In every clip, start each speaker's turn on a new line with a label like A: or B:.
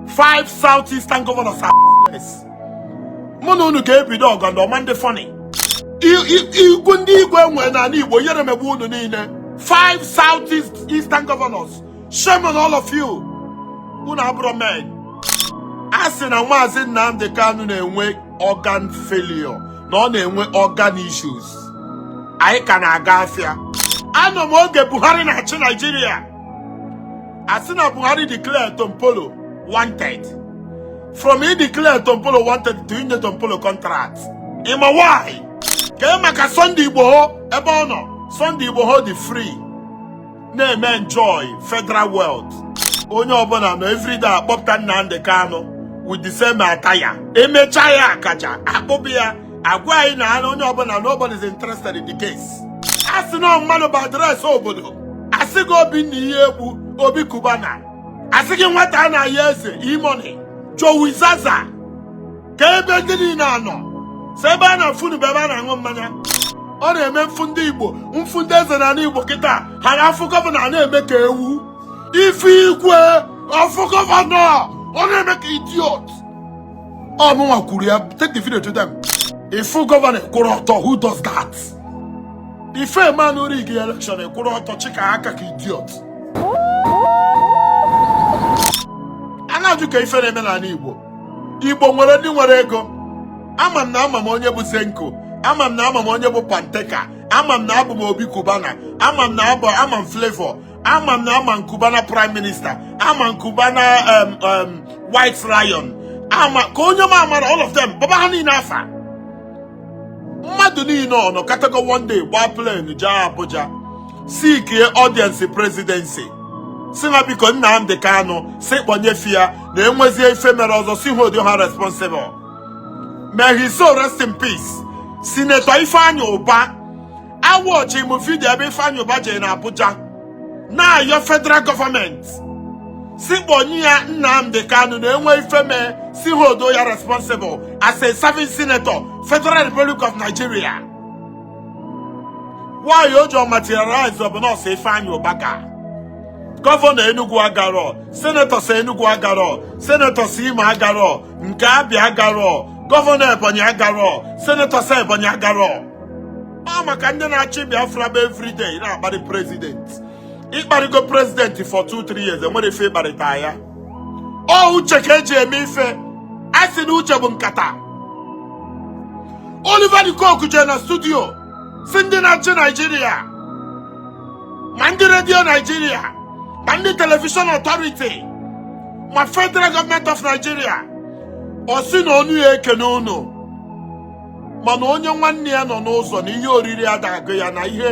A: five south eastern governors are useless mụ na unu ga-ebido ọgọ ndị ọma ndị funny igwe ndị igwe enwe n'ani igbo yere megbu unu niile five south eastern governors shame on all of you unu abụrọ men a sị na maazị nnamdị kanu na-enwe organ failure na ọ na-enwe organ issues anyị ka na-aga afịa anọ m oge buhari na-achị naijiria a sị na Buhari declare Tompolo wanted from ideclare Tompolo wanted to inye Tompolo contract ị ma why kee maka Sunday Igboho ebe ọ nọ Sunday Igboho dị free na-eme enjoy federal wealth onye ọbụla nọ everyday akpọpụta Nnamdi Kanu with the same attire emecha ya akaja akpọba ya agwa anyị na anụ onye ọbụla nobody is interested in the case a sị na mmadụ bụ address obodo a sị gị Obinna Iyiegbu Obi Cubana a sị gị nwata anayọ eze E-Money jowi zaza kee ebe ndị niile a nọ sọ ebe a na-afụ unu bụ ebe a na-aṅụ mmanya ọ na-eme m fụ ndị igbo m fụ ndị eze n'ani igbo kịta ha na-afụ gọvanọ na-eme ka ewu ị fụ igwe ọ fụ gọvanọ ọ na-eme ka idiot ọ mụnwa kwuru ya take the video to them ị fụ gọvanọ kwụrụ ọtọ who does that ife a ma na ọ rig elekshọn kwụrụ ọtọ chịka aka ka idiot a na-ajụ kee ife na-eme n'ani igbo igbo nwere ndị nwere ego ama m na ama m onye bụ Zenco ama m na ama m onye bụ panteka ama m na abụ m Obi Cubana ama m na abụ ama m Flavour ama m na ama m Cubana prime minister ama m Cubana um, um, white lion ama kee onye m amarọ all of them baba ha niile afa mmadụ niile ọ nọkatago one day gbaa plane jee abuja seekie audience presidency sị ha biko nnamdị kanụ sị kpọnye fa ya na enwezie ife mere ọzọ sị ha hold ha responsible may his soul rest in peace senator ifeanyi ubah awatchị m video ebe Ifeanyi Ubah jere na Abuja na-ayọ federal gọọmenti sị kpọnye ya Nnamdi Kanu na enwe ife mee sị ha hold ya responsible as a serving senator Federal Republic of Nigeria why o jirọ materialize ọ bụ na ọ sọ Ifeanyi Ubah ga gọvanọ Enugu agarọ senetọ si Enugu agarọ senetọ si Imo agarọ nke Abia agarọ gọvanọ Ebonyi agarọ senetọ si Ebonyi agarọ ọ maka ndị na-achọ Biafra bụ everyday na-akparị prezident ịkparịgo prezident for 2-3 years enwere ife ịkparịta ya ọ uche ka eji eme ife a sị na uche bụ nkata Oliver de Coque jere na studio sị ndị na-achị Naijiria ma ndị redio Naijiria ma ndị telivishọn ọtọriti ma federal gọọmenti of Nigeria ọ sị na ọnụ ya ekene unu mana onye nwanne ya nọ n'ụzọ na ihe oriri ada agụ ya na ihe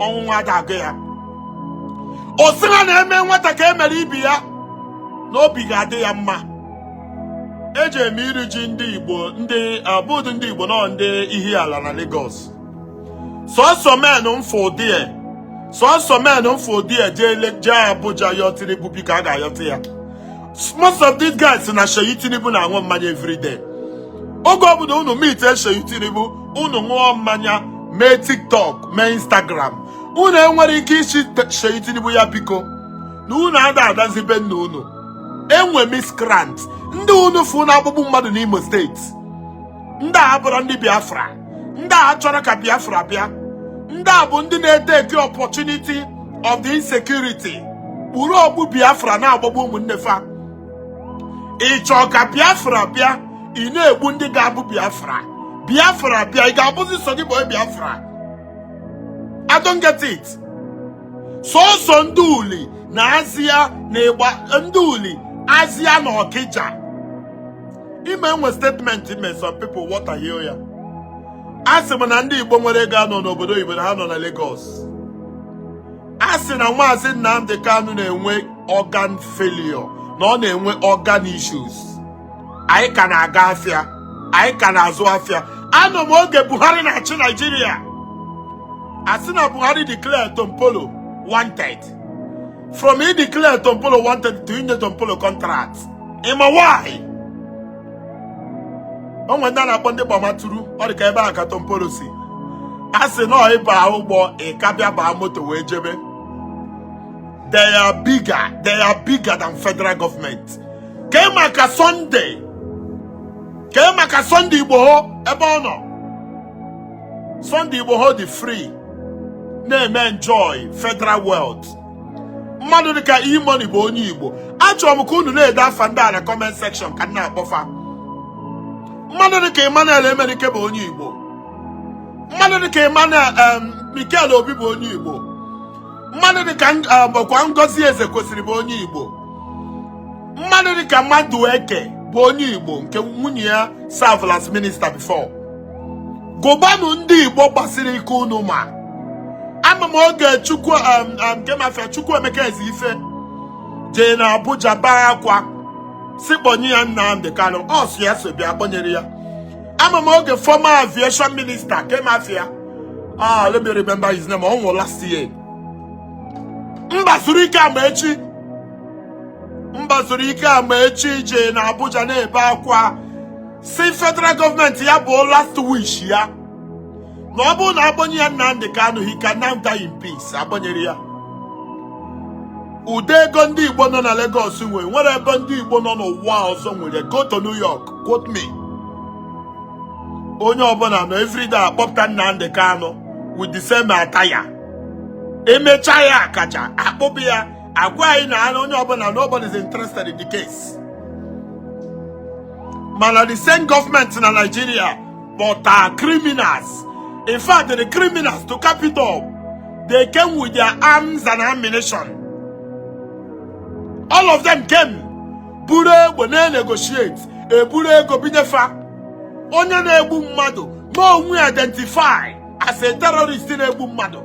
A: ọṅụṅụ ada agụ ya ọ sị ha na e mee nwata ka e mere ibe ya na obi ga-adị ya mma eji eme iri ji ndị igbo ndị a bụ ụdị ndị igbo nọ ndị ihe ala na Lagos sọsọ men mfụ ụdị ya sọsọ men mfụ ụdị ya jee Abuja yọọ Tinubu biko a ga-ayọta ya most of these guys na Seyi Tinubu na-aṅụ mmanya everyday oge ọbụla unu meet Seyi Tinubu unu ṅụọ mmanya mee tiktok mee instagram unu enwere ike ịsị Seyi Tinubu ya biko na unu ada anazi be nna unu enwe miscreant ndị unu fụ na-agbagbu mmadụ n'Imo steeti ndị a abụrọ ndị biafra ndị a achọrọ ka biafra bịa ndị a bụ ndị na-eteki opportunity of the insecurity kpuru okpu biafra na-agbagbu ụmụnne fa ị chọọ ka biafra bịa ị na-egbu ndị ga-abụ biafra biafra bịa ị ga-abụzi sọ gị bụ biafra I don't get it sọsọ ndị uli na azịa na ịgba ndị uli azịa na ọkịja ịma enwe statement m mee some people wọtahie ya asị m na ndị Igbo nwere ego anọ n'obodo oyibo na ha nọ na Lagos a sị na maazị Nnamdi Kanu na-enwe organ failure na ọ na-enwe organ issues anyị ka na-aga afịa anyị ka na-azụ afịa anọ m oge Buhari na-achị Naijiria a sị na Buhari declare Tompolo wanted from ideclare Tompolo wanted to inye Tompolo contract ịma why o nwere ndị a na-akpọ ndị gbamaturu ọ dị ka ebe a ka Tompolo si a sị na ị baa ụgbọ ị ka bịa baa moto wee jebe they are bigger than federal government kee maka Sunday kee maka Sunday Igboho ebe ọ nọ Sunday Igboho dị free na-eme enjoy federal wealth mmadụ dịka e-money bụ onye igbo achọrọ m ka unu na-ede afa ndị a na kọment sekshọn ka m na-akpọfa mmadụ dịka emmanuel emenike bụ onye igbo mmadụ dịka emmanuel mikel obi bụ onye igbo mmadụ dịka bụkwa ngozi ezekwesili bụ onye igbo mmadụ dịka madueke bụ onye igbo nke nwunye ya servelụ as minista before gụbanụ ndị igbo gbasiri ike unu ma ama m oge chukwu um, um, kee ma afa ya chukwuemeka ezeife jee na abuja bee akwa sị kpọnye ya nnamdi kanu ọ sị ya so bịa akpọnyere ya ama m oge former aviation minister kee ma afa ya ah let me remember his name ọ nwụrụ last year mbazulike amaechi mbazulike amaechi jee na abuja na-ebe akwa sị federal gọọmenti ya bụ last wish ya na ọ bụrụ na akpọnye ya Nnamdi Kanu he can now die in peace akpọnyere ya ụdị ego ndị Igbo nọ na Lagos nwere nwere ebe ndị Igbo nọ n'ụwa ọzọ nwere go to New York quote me onye ọbụla nọ everyday akpọpụta Nnamdi Kanu with the same attire emecha ya akaja akpọpụ ya agwa anyị na onye ọbụla nobody is interested in the case mana the same gọọmenti na Nigeria kpọta criminals in fact the criminals to capital they came with their arms and ammunition all of them came buru egbe na-negotiate eburu ego bunye fa onye na-egbu mmadụ ma onwe identify as a terrorist na-egbu mmadụ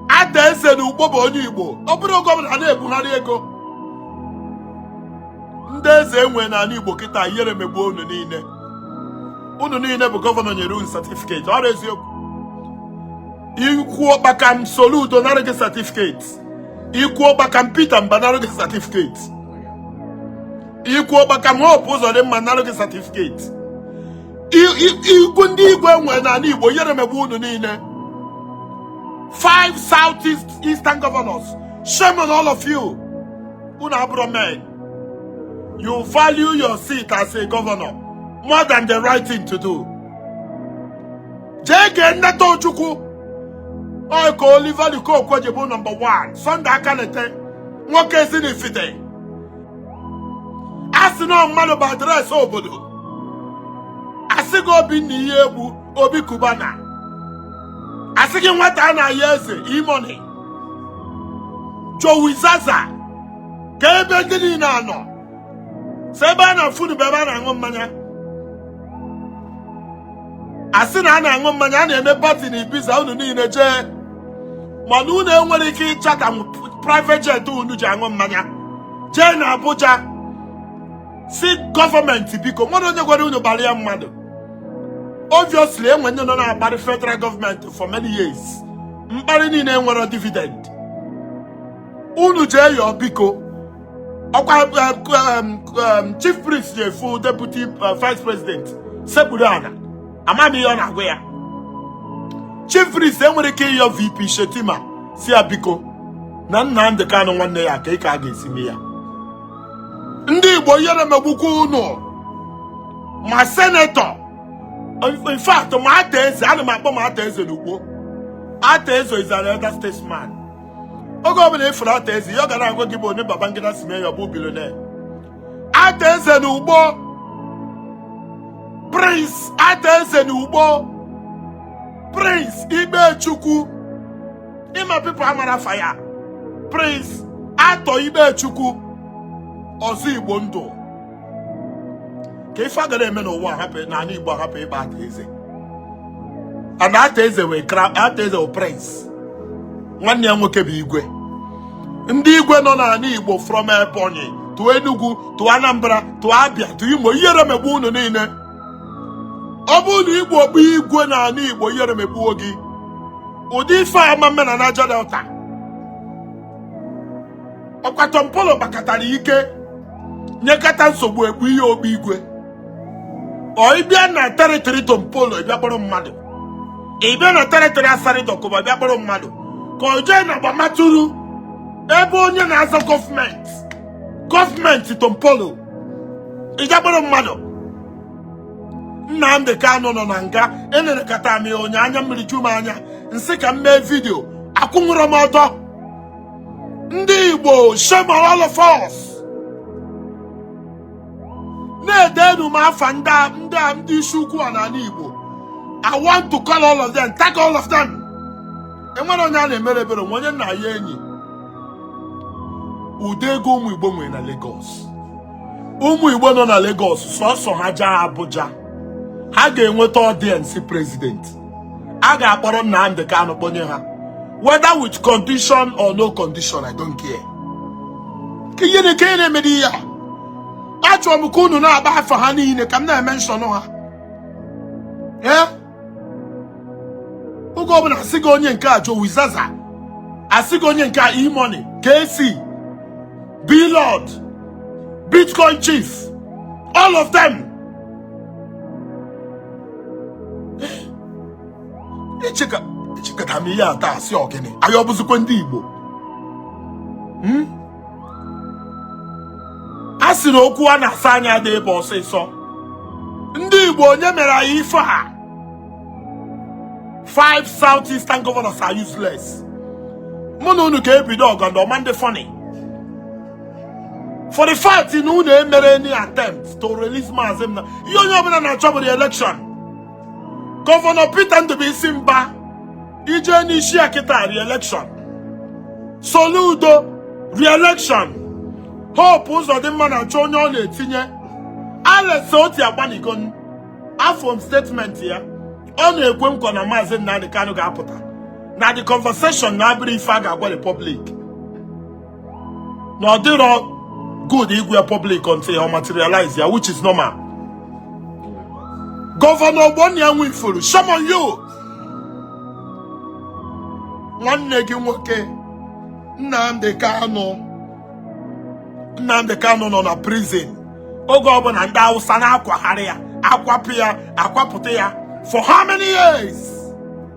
A: arthur eze na ukpo bụ onye igbo ọ bụrụ oge ọbụla a na-ebugharị ego ndị eze enwe n'anị igbo kịta ihere megbuo unu niile unu niile bụ gọvanọ nyere unu satifiketi ọ bụ eziokwu i kwuo kpakam soludo nara gị satifiketi i kwuo kpakam peter mbah nara gị satifiketi i kwuo kpakam hope uzodimma nara gị satifiketi i kwuo ndị igwe enwere n'anị igbo ihere megbuo unu niile five south east eastern governors shame on all of you unu abụrọ men you value your seat as a governor more than the right thing to do jee gee nnata ojukwu ọ ka Oliver De Coque ji bụ nọmba 1 Sunday Akanite nwoke Ezinifite a sị na mmadụ bụ adreesị obodo asị gị obinna iyiegbu obi cubana asị gị nwata anayọ eze e-money jowizaza kee ebe ndị niile a nọ sọ ebe a na-afụ unu bụ ebe a na-aṅụ mmanya a sị na a na-aṅụ mmanya a na-eme pati na ibiza unu niile jee mana unu enwerọ ike ịchata private jet unu ji aṅụ mmanya jee na Abuja sị gọọmenti biko mmadụ onye gwara unu gbara ya mmadụ obviously enwe ndị nọ na-akparị federal gọọmenti for many years mkparị niile enwerọ dividend unu jee yọọ biko ọkwa um, um, um, chief priest je fụ deputy uh, vice president sekpuru ana ama m ihe ọ na-agwa ya chief priest enwere ike ịyọ vp Shettima sị ya biko na Nnamdi Kanu nwanne ya kee ka a ga-esi mee ya ndị Igbo ihere megbukwa unu ma senator in fact ma Arthur Eze ana m akpọ ma Arthur Eze n'Ukpo Arthur Eze is an elder statesman oge ọbụla ị fụrụ Arthur Eze ihe ọ ga na-agwa gị bụ onye Babangida si mee ya ọ bụ billionaire Arthur Eze na Ukpo prince Arthur Eze na Ukpo prince Ikpechukwu ịma people amara afa ya prince Arthur Ikpechukwu ọzọ Igbo ndụ kee ife agara eme n'ụwa n'ala Igbo ahapụ ịkpọ Arthur Eze and Arthur Eze wee Arthur Eze prince nwanne ya nwoke bụ igwe ndị igwe nọ n'ala Igbo from Ebonyi to Enugu to Anambra to Abia to Imo ihere megbuo unu niile ọ bụrụ na ị bụ igwe n'ala Igbo ihere megbuo gị ụdị ife ama mme na Niger Delta ọkwa Tompolo kpakatara ike nyekata nsogbu egbu ihe ogbu igwe ọ ịbịa na territory Tompolo ịbịa kpọrọ mmadụ ịbịa na territory Asari Dokubo ịbịa kpọrọ mmadụ ka o jee na Gbamaturu ebe onye na-aza Government Government Tompolo ịbịa kpọrọ mmadụ Nnamdị Kanụ nọ na nga enenekata m ya ụnyaa anya mmiri ju m anya m sị ka m mee vidio akwụnwụrọ m ọtọ ndị Igbo shame on all of us na-edenu m afa ndị a- ndị a- ndị isi ukwu a n'ala Igbo I want to call all of them tag all of them enwere onye a na-emere ebere nwe onye nna ya enyi ụdị ego ụmụ Igbo nwere na Lagos ụmụ Igbo nọ na Lagos sọsọ ha jee Abuja ha ga-enweta audience president a ga-akpọrọ Nnamdi Kanu kpọnye ha whether with condition or no condition I don't care kee ihe nke a na-emedi ya achọrọ m ka unu na-akpọ afa ha niile ka m na-emenshọnụ ha ee oge ọbụla asị gị onye nke a Jowi Zaza asị gị onye nke a E-Money KC B-Lord Bitcoin Chief all of them echekata m ihe a taa sị ọ gịnị anyị ọbụzikwa ndị Igbo hmm? a sị na okwu a na-asa anya ada ebe ọsịsọ ndị Igbo onye mere anyị ife a five south eastern governors are useless mụ na unu ga-ebido ọgọndọ ọ ma ndị funny for the fact na unu emerọ any attempt to release maazị Nnamdi ihe onye ọbụla na-achọ bụ re-election gọvanọ Peter Ndubuisi Mba ije n'isi ya kịta re-election Soludo re-election Hope Uzodimma na-achọ onye ọ na-etinye Alex Otti agbanịgonụ afụ m statement ya ọ na-ekwe nkwa na maazị Nnamdi Kanu ga-apụta na the conversation na abụrọ ife a ga-agwa the public na ọ dịrọ good ịgwa ya public until ọ materialize ya which is normal gọvanọ Ogbonnia Nwifuru shame on you nwanne gị nwoke Nnamdi Kanu Nnamdi Kanu nọ na prison oge ọbụla ndị Hausa na-akwagharị ya akwapụ ya akwapụta ya for how many years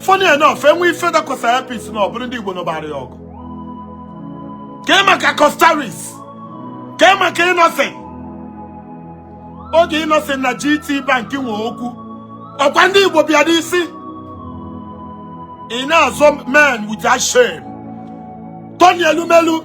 A: funny enough enwe ife dakwasa Air Peace na ọ bụrụ ndị Igbo nụbara ya ọgụ kee maka Coscharis kee maka Innoson oge Innoson na GT Bank nwe okwu ọkwa ndị Igbo bịada isi ị na-azọ men without shame Tony Elumelu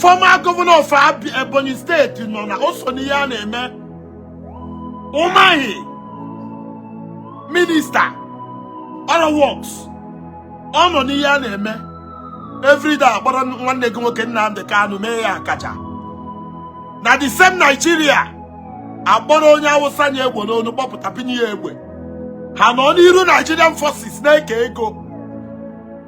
A: former governor of Ebonyi State nọ na o so n'ihe a na-eme Umahi minista ọrụ works ọ nọ n'ihe a na-eme everyday akpọrọ nwanne gị nwoke Nnamdi Kanu mee ya akaja na the same Nigeria akpọrọ onye awụsa na-egbu unu kpọpụta bunye ya egbe ha nọ n'iru Nigerian forces na-eke ego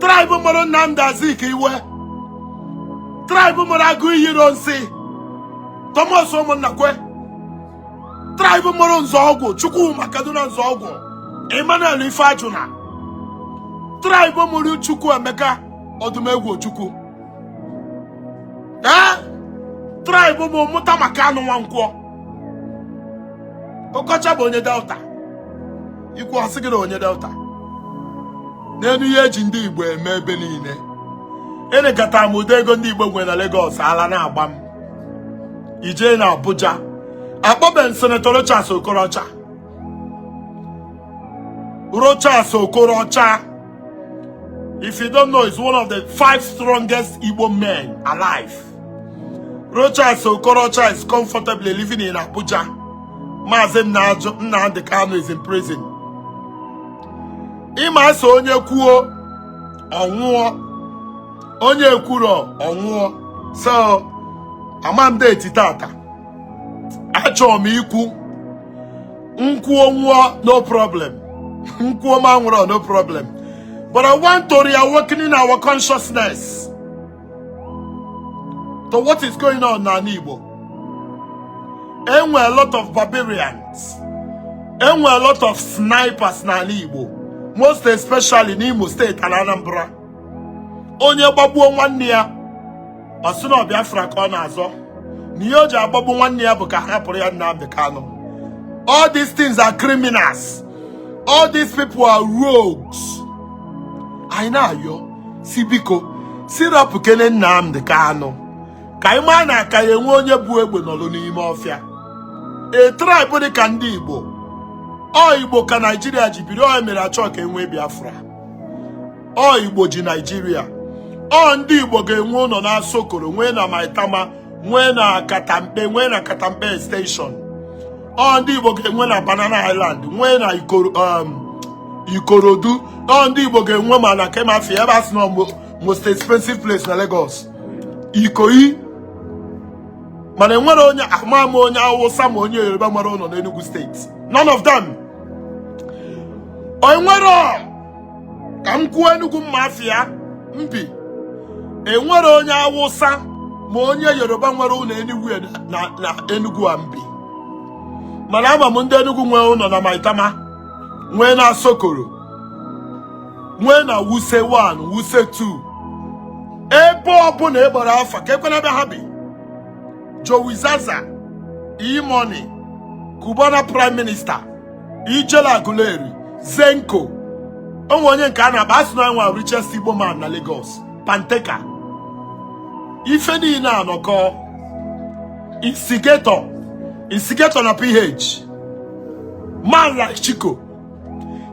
A: tribe mụrụ Nnamdi Azikiwe tribe mụrụ Aguiyi Ironsi Thomas Umunnakwe tribe mụrụ Nzeogwu Chukwuma Kaduna Nzeogwu Emmanuel Ifeajuna tribe mụrụ Chukwuemeka Odumegwu Ojukwu ee tribe mụ mụta ma Kanu Nwankwo Okocha bụ onye Delta ikwuo a sị gị na onye Delta neenụ ihe eji ndị Igbo eme ebe niile enekata m ụdị ego ndị Igbo nwere na Lagos ala na-agba m ijee na Abuja akpọbeghị senetọ Rochas Okorocha Rochas Okorocha if you don't know is one of the five strongest Igbo men alive Rochas Okorocha is comfortably living in Abuja. Maazị Nnamdi Kanu is in prison. Ị ma a sị onye kwuo ọ nwụọ onye ekwurọ ọ nwụọ so amamdeti tata achọ m ikwu m kwuo nwụọ no problem m kwuo ma anwụrọ no problem but I want to reawakening our consciousness to what is going on n'ana Igbo enwe a lot of barbarians enwe a lot of snipers n'ana Igbo most especially n'Imo steeti and Anambra onye gbagbuo nwanne ya ọ sị na ọ Biafra ka ọ na-azọ na ihe o ji agbagbu nwanne ya bụ ka hapụrụ ya Nnamdi Kanu all these things are criminals all these people are rogues anyị na-ayọ sị biko sị rapụkene Nnamdi Kanu ka anyị maa na a ka ya-enwe onye bu egbe nọlụ n'ime ọfịa a tribe dị ka ndị Igbo ọ Igbo ka Naijiria ji biri ọ mere achọ ka enwe Biafra ọ Igbo ji Naijiria ọ ndị Igbo ga-enwe ụnọ na Asokoro nwee na Maitama nwee na Katampe nwee na Katampe extension ọ ndị Igbo ga-enwe na Banana Island nwee na um, Ikorodu ọ ndị Igbo ga-enwe ma na kee ma afa ya ebe a sị na most expensive place na Lagos Ikoyi mana enwere onye ama ama onye Awụsa ma onye Yoruba nwere ụnọ n'Enugu steeti none of them enwere ka m kwuo Enugu m ma afa ya m bi enwere onye Awụsa ma onye Yoruba nwere ụnọ Enugwu na Enugwu a m bi mana ama m ndị Enugwu nwee ụnọ na Maitama nwee na Asokoro nwee na Wuse 1 Wuse 2 ebe ọbụla ị kpọrọ afa ka ekwe na ebe ha bi Jowizaza E-Money Cubana Prime Minister Ijele Aguleri Zenco o nwe onye nke a na-akpọ a sị na nwa richest Igbo man na Lagos Panteka ife niile anọkọ instigator instigator na PH man like Chico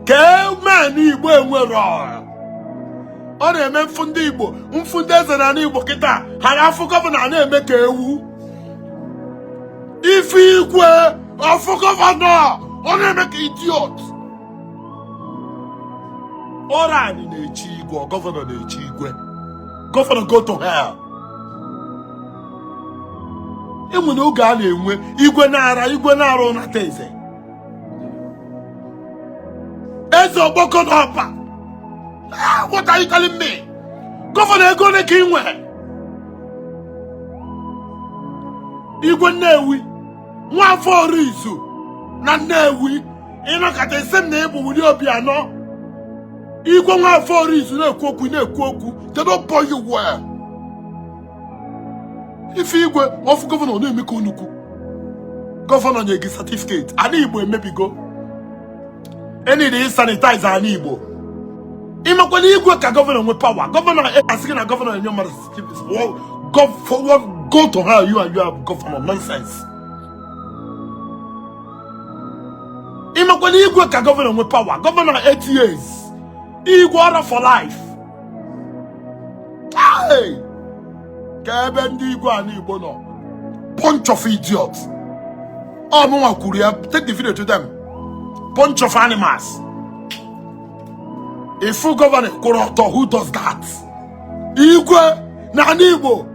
A: kee men Igbo enwere ọ na-eme m fụ ndị Igbo m fụ ndị eze na ana Igbo kịta ha na-afụ gọvanọ na-eme ka ewu ị fụ igwe ọ fụ gọvanọ ọ na-eme ka idiot ọrọ anyị na-echi igwe ọ gọvanọ na-echi igwe gọvanọ go to hell enwere oge a na-enwe igwe Nara igwe Nara Unateze eze ọgbọkọ na ọpa Ah, what are you telling me gọvanọ ego ole ka i nwe igwe Nnewi Nwafọ Orizu na Nnewi ịnọkọta isi m na ịbụ wuli obi anọ igwe Nwafọ Orizu na-ekwu okwu na-ekwu okwu they don't born you well ị fụ igwe ọ fụ gọvanọ na-eme ka onukwu gọvanọ nye gị satifiketi ana Igbo emebigo e need ịsanitaiza ana Igbo ị makwa na igwe ka gọvanọ nwe pawa gọvanọ a sị gị na gọvanọ enye mmadụ Keep this wall. Go forward. Go to her. You and you have governor nonsense. ị makwa na igwe ka gọvanọ nwe pawa gọvanọ 8 years igwe ọrụ for life Hey! kee ebe ndị igwe ani igbo nọ bunch of idiot ọ mụnwa kwuru ya take the video to them bunch of animals ị fụ gọvanọ kwụrụ ọtọ who does that igwe na ani igbo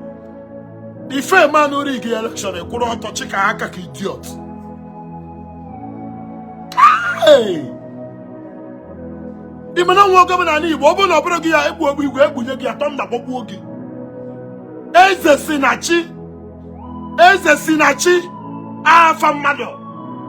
A: ị fụ man who rig elekshọn ị kwụrụ ọtọ chika aka ka idiot ị ma na e nwe gọvanọ na ani igbo ọ bụrụ na ọ bụrụ gị ya egbu egbe igwe egbunye gị a thunder gbagbuo gị eze si na chi afa mmadụ